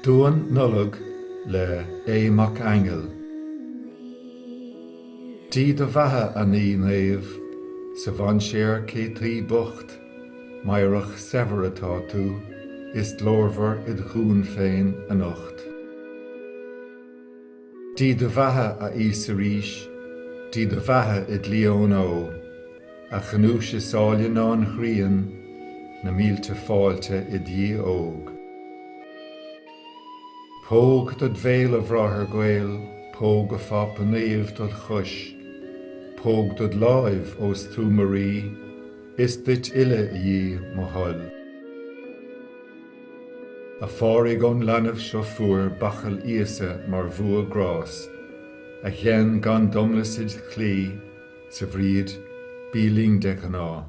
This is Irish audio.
Duan Nollag le Aodh Mac Aingil. Dia do bheatha a Naí Naomh, Sa mhainséar cé taoi bocht, Meidhreach saibhir atá tú, Is glórmhar id dhún féin anocht. Dia do bheatha, a Íosa arís. Dia do bheatha, i gclí ón Óigh. A ghnúis is áille ná an ghrian, Na mílte fáilte do Dhia óg. Póg dod' bhéal, a Bhráthair gaoil, Póg, a Phápa Naomh, dod' chois, Póg dod' láimh, ós tú mo rí, Is duit uile, a Dhia, mo thoil. A Phádraig ón leanbh seo fuair bachall Íosa mar bhua grás, A ghein gan domlas id' chlí, 's a Bhríghid, bí linn de ghnáth.